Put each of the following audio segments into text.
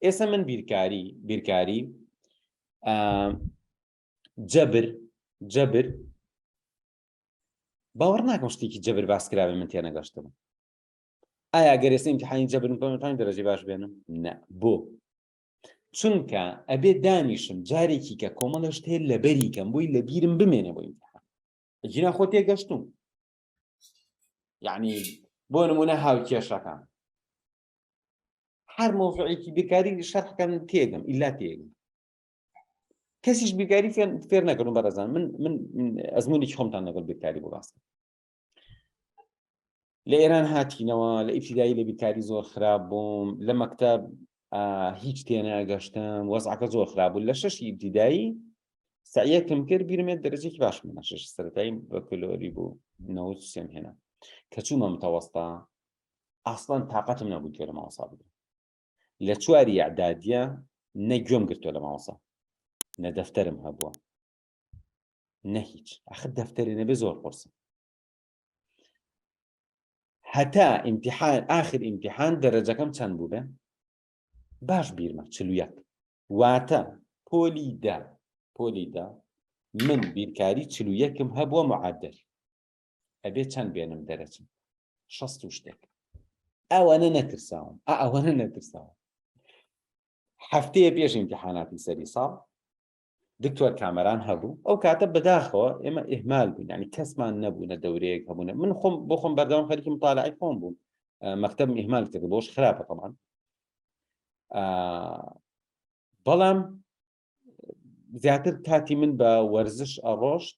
ئێستا من بیرکاری بیرکاری جەبر جەبر باوەڕ ناکەم شتێکی جەبر باس کراوێ من تێنەگەشتم ئایا گەرێسە امتحانی جەبرم پەمەتان دەرەجی باش بێنم نە بۆ چونکە ئەبێ دانیشم جارێکی کە کۆمەڵە شتێ لەبەری کەم بووی لە بیرم بمێنە بۆ امتحان جینا خۆ تێگەشتوم یعنی بۆ نمونە هاوکێشەکان هەر مۆفعێکی بێکاری شەرحکەم تێگەم ئیلا تێگەم کەسیش بێکاری فێر نەکردن بەڕێزان من من ئەزمونێکی خۆمتان لەگەڵ بێکاری بۆ باست لە ئێران هاتینەوە لە ئیفیدایی لە بیکاری زۆر خراپ بووم لە مەکتب هیچ تێناگەشتم وەزعەکە زۆر خراپ بوو لە شەشی ئیبتیدایی سعیەکم کرد بیرمێت دەرەجێکی باش منە شش سەرەتایی بەکلۆری بوو نەوت سێم هێنا کە چوومە متەوەستا ئاسڵان تااقەتم نەبوو گوێ لە مامۆسا بگرم لە چواری یعدادە نە گوێم گرتووە لە مامۆسا نە دەفتەرم هەبووە نە هیچ ئەخ دەفتەری نەبێ زۆر قرسم هەتا ئیمتحان آخر ئیمتحان دەرەجەکەم چەند بوو بێ باش بیرمە چلویەک واتە پۆلی دا پۆلی دا من بیرکاری چلویەکم هەبووە معادل ئەبێ چەند بێنم دەرەچم شەست و شتێک ئەوەنە نەترساوم ئەوەنە نەترساوم هەفتەیە پێش امتحاناتی سەری ساڵ دکتۆر کامەران هەبوو ئەو کاتە بەداخەوە ئێمە ئهمال بوون ینی کەسمان نەبوونە دەورەیەک هەبوونە من خۆم بۆ خۆم بەردەوام خەرکی مطالعی خۆم بووم مەکتب ئهمال کرد بۆش خراپە تەمان بەڵام زیاتر کاتی من بە وەرزش ئەڕۆشت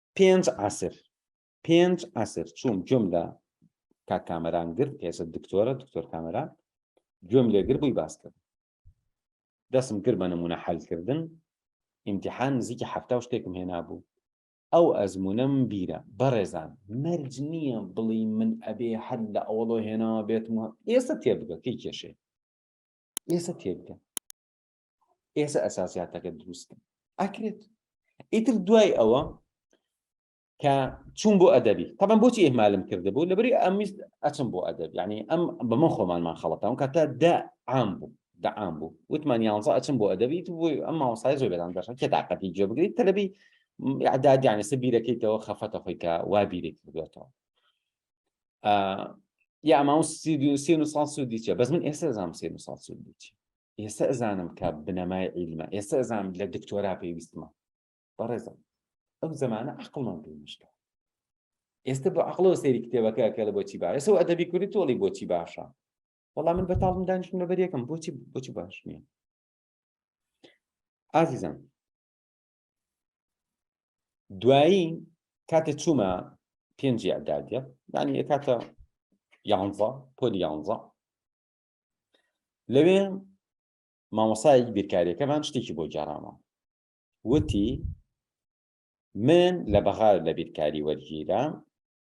پێنج عسر پێنج عسر چوم گوێم لە کاک کامەران گرت ئێستا دکتۆرە دکتۆر کامەران گوێم لێگر بووی باس کرد دەسم کرد بە نمونە حلکردن ئیمتحان نزیکی هەفتا و شتێکم هێنابوو ئەو ئەزمونم بیرە بەڕێزان مەرج نییە بڵی من ئەبێ هەر لە ئەوڵۆ هێناوە بێتمەوە ئێستا تێبگە کەی کێشێ ئێستا تێبگە ئێستا ئەساسیاتەکە دروستکەن ئەکرێت ئیتر دوای ئەوە کە چوون بۆ ئەدەبی تەبان بۆچی ئێمالم کرده بوو لەبری ئەمیست ئەچم بۆ ئەدەب ینی ئەم بە من خۆمانمان خەڵەتان کاتە دا عام بوو دەعام بوو وتمان یانزە ئەچم بۆ ئەدەبیت بووی ئەم ماوەسای زۆر بەدان دەشن کێ تااقەتی جێ بگریت تەلبی عدادیانە سە بیرەکەیتەوە خەفەتە خۆی کە وا بیرێک بێتەوە یا ئەماون سی و سان سوودی چێ بەس من ئێستا زانام سێ سان سوودی چێ ئێستا ئەزانم کە بنەمای عیلمە ئێستا ئەزانم لە دکتۆرا پێویستمە بەڕێزم ئەو زمانە عقڵمان پێ مشکە ئێستا بۆ عقلەوە سەیری کتێبەکە کە لە بۆچی باە سەو ئەدەبی کوردی تۆڵی بۆچی باشە وەڵام من بەتاڵم دانیشتم لەبەر یەکەم بۆچی بۆچی باش نییە ئازیزم دوایی کاتێ چوومە پێنجی ئەدادە دانی کاتە یانزە پۆلی یانزە لەوێ مامۆسایەک بیرکاریەکەمان شتێکی بۆ جارامە وتی من لە بەغار لە بیرکاری وەرگیرا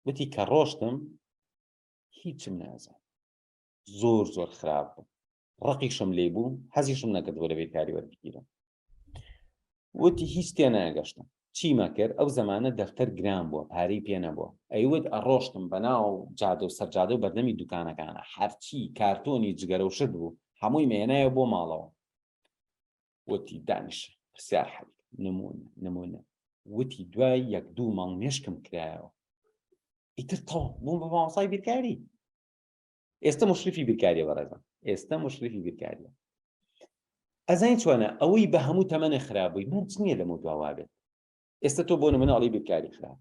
وتی کە ڕۆشتم هیچم نازان زۆر زۆر خراپ بوو ڕقیشم لێ بوو حەزیشم نەکردوە لە بیرکاری وەرگیرم وتی هیچ تێ ناگەشتم چیمە کرد ئەو زمانە دەفتەر گران بووە پارەی پێ نەبووە ئەیوت ئەڕۆشتم بەناو جادە و سەرجادە و بەردەمی دوکانەکانە هەرچی کارتۆنی جگەرە و شت بوو هەمووی مێنایە بۆ ماڵەوە وتی دانیش پرسیار حەل نمون نمونە وتی دوای یەک دوو ماڵ مێشکم کرایەوە ئیتر تەڵ بووم بە مامۆسای بیرکاری ئێستا مشرفی بیرکاریە بەڕێزم ئێستا مشرفی بیرکاریە ئەزین چۆنە ئەوەی بە هەموو تەمەە خراپبووی مەرج نییە لەمە دواوابێت ئێستا تۆ بۆ مناڵی بیرکاری خراپ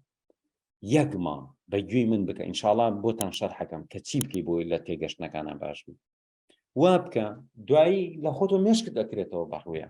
یەک ماڵ بە گوێی من بکە ئینشاڵان بۆتان شەر حەکەم کە چی بکەی بۆی لە تێگەشتنەکانە باش بوو وا بکە دوایی لە خۆتۆ مێشکت دەکرێتەوە بەڕوویە